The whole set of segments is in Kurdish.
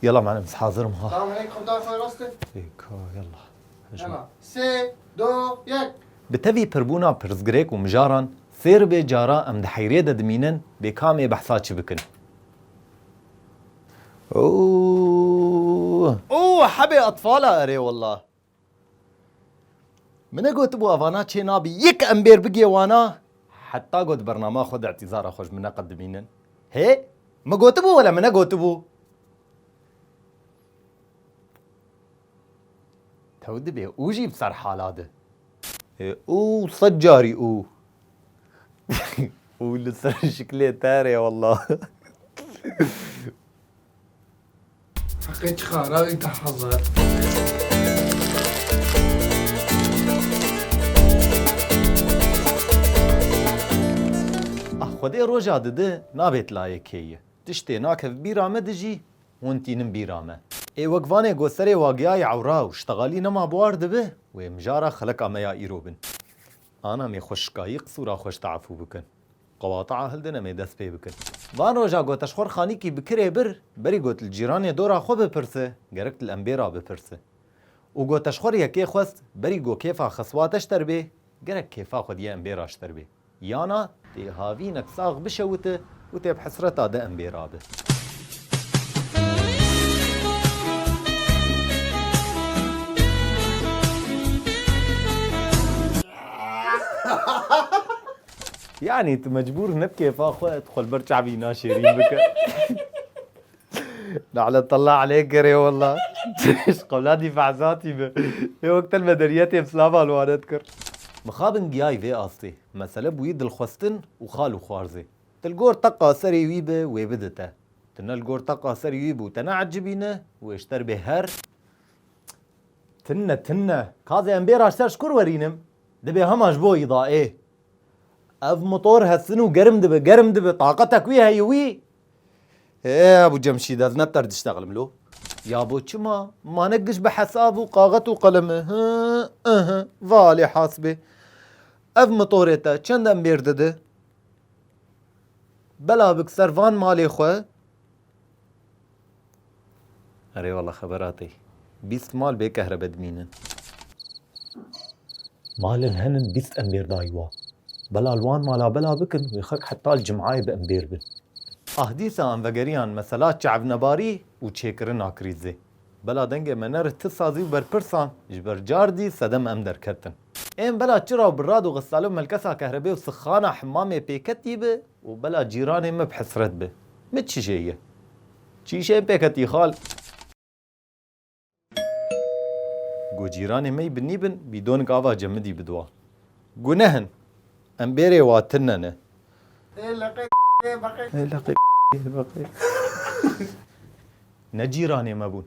Yala menim hazir im ha. Tamam hey kurda xwe rast e. Êka yala. Hema sê do yek. Bi tevî pirbûna pirsgirêk û mijaran fêr be cara em di heyrê de dimînin bê kamê behsa çi bikin. Ooh. Ooh hebê etfala erê wella. Min e gotibû avana çê nabî yek em bêr bigê wana heta got bernama xwe di îtîzara xwe ji min ne qet dimînin. Hê min gotibû wele min e gotibû. Tew dibê û jî bi ser hala di. Hê û sed carî û. Û li ser şiklê te re wela. Heqê çiqa rawî deh hezar. Xwedê roja didi nabêt layê kêyi. Tiştê nakev bîra me di jî hûn tînin bîra me. Ê wek vanê go serê wagiyayê ewra û ştegalî nema buar dibi wê mijara xeleka me ya îro bin. Ana mê xweşikayî qisûra xweş te'efû bikin. Qewata'a hilde ne mê dest pê bikin. Van roja got eşxor xanîkî bi kirê bir, berî got li cîranê dora xwe bipirse, gerek li embêra bipirse. Û got eşxor yekê xwest, berî got kêfa xeswate ji ter bê, gerek kêfa xwe diye embêra ji ter bê. Yana, tê havînek sax bişewite û tê bi hesreta di embêra be. Yanî tu mecbûr ne bi kêfa xwe tu xwe li ber çavî naşêrîn bike. Naletella aleyk gerê wella. Ji qewladî fehzatî be. Ê wek te li me deriyetê bi silavan wane dikir. Mixabin giyayî vê astê. Mesele bûyî dilxwestin û xal û xwarzê. Tu li gor teqa serê wî be wê bide te. Tu ne li gor teqa serê wî bû te neecibîne wê ji te re bê her Tine tine. Kazê em bê raşter ji kur werînim? Dibe hema ji bo wî da ê. Ev motor hestin û germ dibe, germ dibe. Taqetek wî heye wî. Ê Ebû Cemşîd ez ne bi te re diştexlim lo. Ya bo çima? Ma ne giş bi hesab û qaxet û qelem e. Hı ı hı. Va alê hasibê. Ev motorê te çend embêr dide? Bela bik ser van malê xwe. Erê wala xebera tê. Bîst mal bê kehrebe dimînin. Malên henin bîst embêr dayî wan. Bela li wan mala bela bikin wê xelk heta li cim'ayê bi embêr bin. Ah dîsa em vegeriyan mesela çavnebarî û çêkirina krîzê. Bela dengê me ne rihti sazî û berpirsan ji ber car dî sedem em derketin. Ên bela çira û birad û xisale û melkesa kehrebê û sixana himamê pêketî bi Û bela cîranê me bi hesret bi. Mi çije ye. Çîşeyê pêk hetî xal. Go cîranê mey bi nîbin bîdonik ava cemidî bidiwa. Guneh in. Em bêrê wa tirne ne. Ê leqê yê beqê. Ê leqê yê beqê. Ne cîranê me bûn.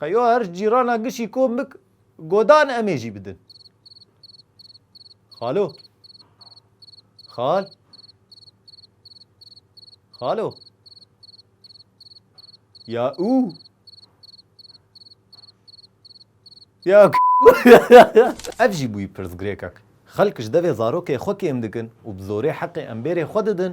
Xeyo her cîrana gişî kom bik godan emê jî bidin. Xalo. Xal. Xalo. Ya û. Ya Ev jî bûyî pirsgirêkek. Xelk ji devê zarokê xwe kêm dikin û bi zorê heqê em bêrê xwe didin,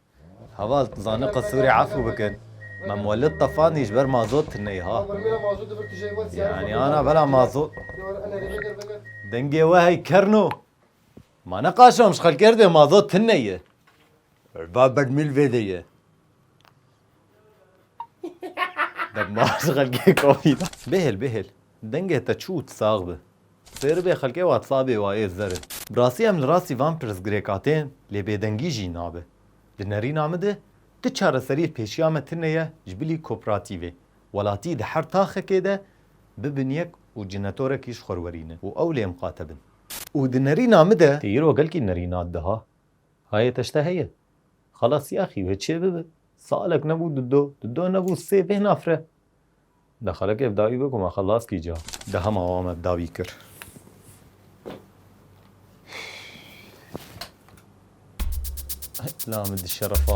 Heval, tu zane qe Sûrê efû bikin? Me Muwellid tefandî ji ber mazot tineyî ha. Yanî ana bela mazot. Dengê we hey kern o. Ma ne qaşam ji xelkê erdê mazot tineyî. Ba bermîl vêdê ye. Demaj xelkê komî da. Bêhêl bêhêl. Dengê te çû û tu sax bi. Sêr bê xelkê whatsabê wa ê zer in. Bi rastî em li rastî van pirsgirêka tên lê bêdengî jî nabe. Di nerîna min de tu çareserî li pêşiya me tine ye ji bilî koperatîvê. Welatî di her taxekê de bibin yek û cinetorekî ji xwe werînin û ew lê miqate bin. Û di nerîna min de. Tê îro gelkî nerîna diha. Hayê te ji te heye? Xelas yaxî wê çê bibe. Salek nebû di do, di do nebû sê bê nafre. De xelek ev dawî be ku me xelas kî ca. De hema wan me dawî kir. La min di şerefa